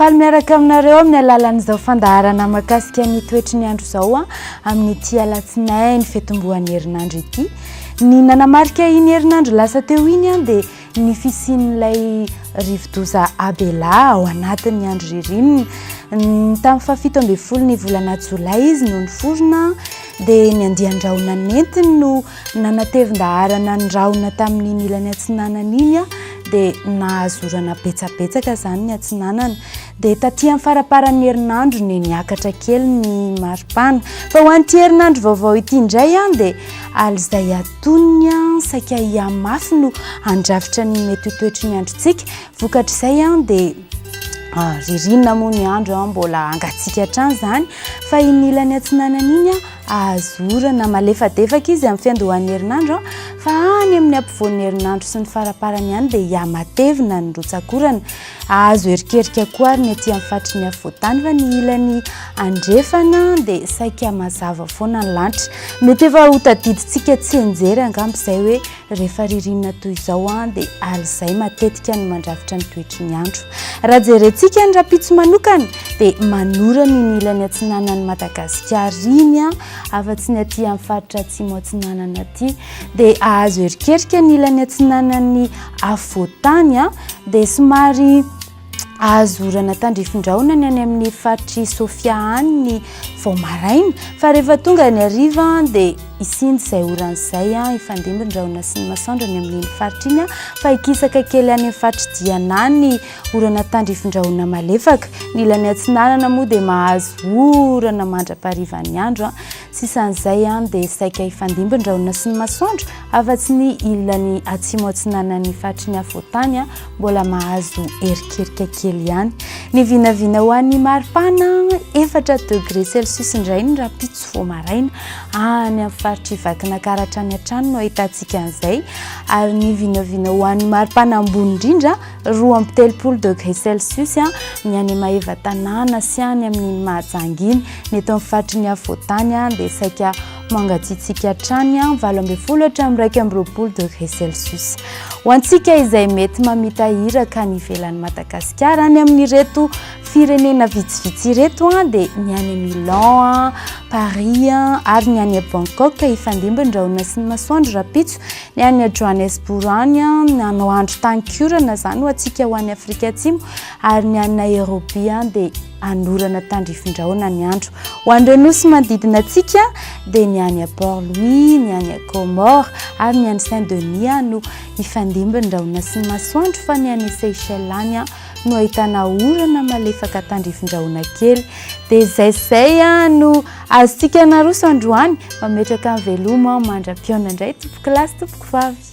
Faly miaraka aminareo amin'ny alalan'izao fandaharana makasika ny toetry ny andro izao a amin'ny ti alatsinay ny fetombohan'ny herinandro ity ny nanamarika iny herinandro lasa teo iny a dia Ny fisian'ilay rivodoza Abela ao anatin'ny andro ririnina. Tamin'ny fahafito ambin'ny folo ny volana jolay izy no niforona, dia ny andian-drahona nentiny no nanatevin-daharana ny rahona tamin'iny ilany atsinanana iny, dia nahazo orana betsabetsaka izany ny atsinanana. Dia taty amin'ny faraparan'ny herinandro no niakatra kely ny maripana. Fa ho an'ity herinandro vaovao ity indray dia alizay atonony saika hihamafy no handrafitra ny mety ho toetry ny androntsika. Vokatr'izay dia ah, ririnina moa ny andro mbola hangatsiaka hatrany izany fa iny ilany atsinanana iny ahazo orana malefadefaka izy amin'ny fiandohan'ny herinandro fa any amin'ny ampovoan'ny herinandro sy ny faraparany ihany dia hihamatevina ny rotsakorana. Azo erikerika koa ary ny ety amin'ny faritry ny afovoan-tany fa ny ilany andrefana dia saika mazava foana ny lanitra. Mety efa ho tadidintsika tsianjery angamba izay hoe rehefa ririnina toy izao dia alizay matetika no mandrafitra ny toetry ny andro. Raha jerentsika ny rahampitso manokana dia manorana iny ilany atsinanan'i Madagasikara iny afa-tsy ny aty amin'ny faritra atsimo atsinanana aty dia azo erikerika ny ilany atsinanan'ny afovoan-tany. dia somary azo orana tandrifin-drahona ny any amin'ny faritr'i Sofia any ny vao maraina fa rehefa tonga ny hariva dia isindy izay orana izay hifandimby ny rahona sy ny masoandro any amin'iny faritra iny fa hikisaka kely any amin'ny faritry Diana any ny orana tandrifin-drahona malefaka. Ny ilany atsinanana moa dia mahazo orana mandra-parivan'ny andro. Sisan'izay ihany dia saika hifandimby ny rahona sy ny masoandro afa-tsy ny ilany atsimo atsinanan'ny faritry ny afovoan-tany mbola mahazo erikerika kely ihany. Ny vinavina ho an'ny maripana efatra degré celsius indray ny rahampitso vao maraina. Any amin'ny faritr'i Vakinankaratra hatrany hatrany no ahitantsika an'izay ary ny vinavina ho an'ny maripana ambony indrindra roa amby telopolo degré celsius ny any Maeva tanàna sy any amin'iny Mahajanga iny. Ny eto amin'ny faritry ny afovoantany dia saika mangatsiatsiaka hatrany valo ambin'ny folo hatramin'ny iraika amby roapolo degré celsius. Ho antsika izay mety mamita iraka any ivelan'i Madagasikara any amin'ireto firenena vitsivitsy ireto dia ny any Milan, Paris ary ny any Bangkok ifandimby ny rahona sy ny masoandro rahampitso Ny any Johannesbourg any an, hanao andro tankiorana zany ho antsika ho any Afrika Atsimo ary ny any Nairobi an dia hanorana tandrifindraona ny andro. Ho an'ireo nosy manodidina antsika dia ny any à Port Louis, ny any à Comores ary ny any Saint Denis an no hifandimby ny rahona sy ny masoandro fa ny any Seychelles any an no ahitana orana malefaka tandrifindraona kely. Dia izay sy izay an no Azontsika naroso androany, mametraka ny veloma aho mandra-pihaona indray tompoko lahy sy tompoko vavy.